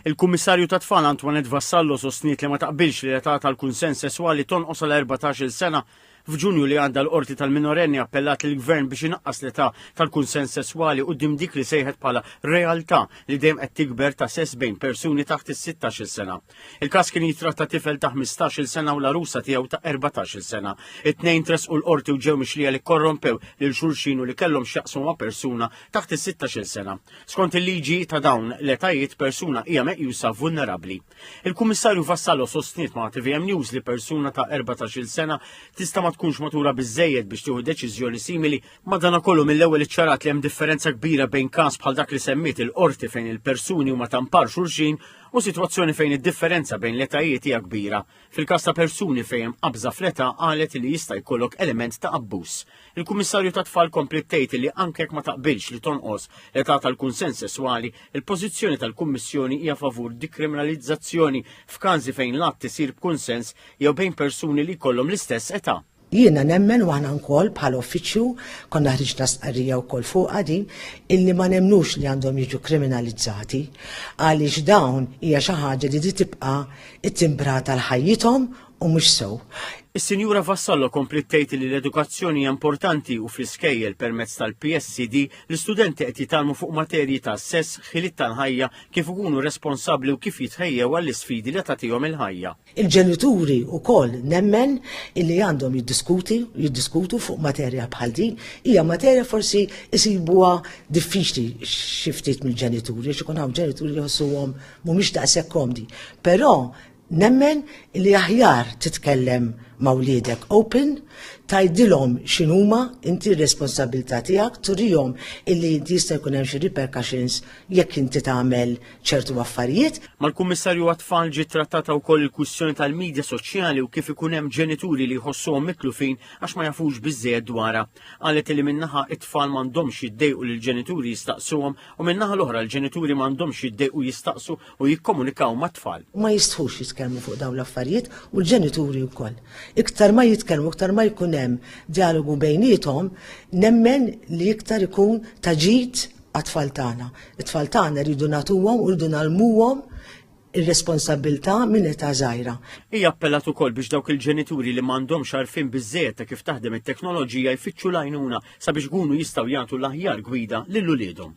Il-Kummissarju tat-Tfal Antoinette Vassallo sostniet li ma taqbilx li l-età tal-kunsens sesswali tonqos għal 14-il sena. F'Ġunju li għadda l-Qorti tal-Minorenni appellat lill-Gvern biex inaqqas l-età tal-kunsens sesswali quddiem dik li sejħet bħala realtà li dejjem qed tikber ta' sess bejn persuni taħt is-16-il sena. Il-każ kien jitratta tifel ta' 15-il sena u l-arusa tiegħu ta' 14-il sena. It-tnejn tresqu l-qorti u ġew mixlija li korrompew lil xulxin u li kellhom x'jaqsmu ma' persuna taħt is-16-il sena. Skont il-liġi ta' dawn l-etajiet persuna hija meqjusa vulnerabbli. Il-Kummissarju Vassallo sostniet ma' TVM News li persuna ta' 14-il sena tista' ma tkunx matura biżejjed biex tieħu deċiżjoni simili. Madanakollu mill-ewwel iċċarat li hemm differenza kbira bejn każ bħal dak li semmiet il-qorti fejn il-persuni huma ta' mpar xulxin u sitwazzjoni fejn id-differenza bejn l-etajiet hija kbira. Fil-każ ta' persuni fejn hemm qabża fl-età qalet li jista' jkollok element ta' abbuż. Il-Kummissarju tat-Tfal kompliet tgħid li anke jekk ma taqbilx li tonqos l-età tal-kunsens sesswali, il-pożizzjoni tal-Kummissjoni hija favur dikriminalizzazzjoni f'każi fejn l-att isir b'kunsens jew bejn persuni li jkollhom l-istess età. Jiena nemmen u aħna wkoll bħala uffiċċju konna ħriġna stqarrija wkoll fuqha din illi ma nemmnux li għandhom jiġu kriminalizzati għaliex dawn hija xi ħaġa li trid tibqa' ttimbrata għal ħajjithom u mhux sew. Is-Sinjura Vassallo kompliet tgħid li l-edukazzjoni hija importanti u fl-iskejjel permezz tal-PSCD l-istudenti qed jitgħallmu fuq materji ta' sess, ħiliet tal-ħajja, kif ikunu responsabbli u kif jitħejjew għall-isfidi li tagħtihom il-ħajja. Il-ġenituri wkoll nemmen illi għandhom jiddiskuti jiddiskutu fuq materja bħal din. Hija materja forsi jsibuha diffiċli xi ftit mill-ġenituri għax ikun hawn ġenituri li jħossuhom mhumiex daqshekk komdi. Però nemmen li aħjar titkellem ma' wliedek open, tgħidilhom x'inhuma inti r-responsabilità tiegħek, turihom illi jista' jkun hemm xi repercussions jekk inti tagħmel ċertu affarijiet. Mal-Kummissarju għat-Tfal ġiet trattata wkoll il-kwistjoni tal-midja soċjali u kif ikun hemm ġenituri li jħossuhom mitlufin għax ma jafux biżżejjed dwarha. Qalet li min-naħa it-tfal m'għandhomx jiddejqu li l-ġenituri jistaqsuhom u min-naħa l-oħra l-ġenituri m'għandhomx jiddejqu jistaqsu u jikkomunikaw mat-tfal. Ma jistħux jitkellmu fuq dawn l-affarijiet u l-ġenituri wkoll. Iktar ma jitkellmu, iktar ma jkun hemm dialogu bejniethom, nemmen li iktar ikun ta' ġid għat-tfal tagħna. It-tfal tagħna rridu nagħtuhom u rridu nalmuhom ir-responsabilità minn età żgħira. Hija appellat ukoll biex dawk il-ġenituri li m'għandhomx għarfien biżżejjed ta' kif taħdem it-teknoloġija jfittxu l-għajnuna sabiex ikunu jistgħu jagħtu l-aħjar gwida lil uliedhom.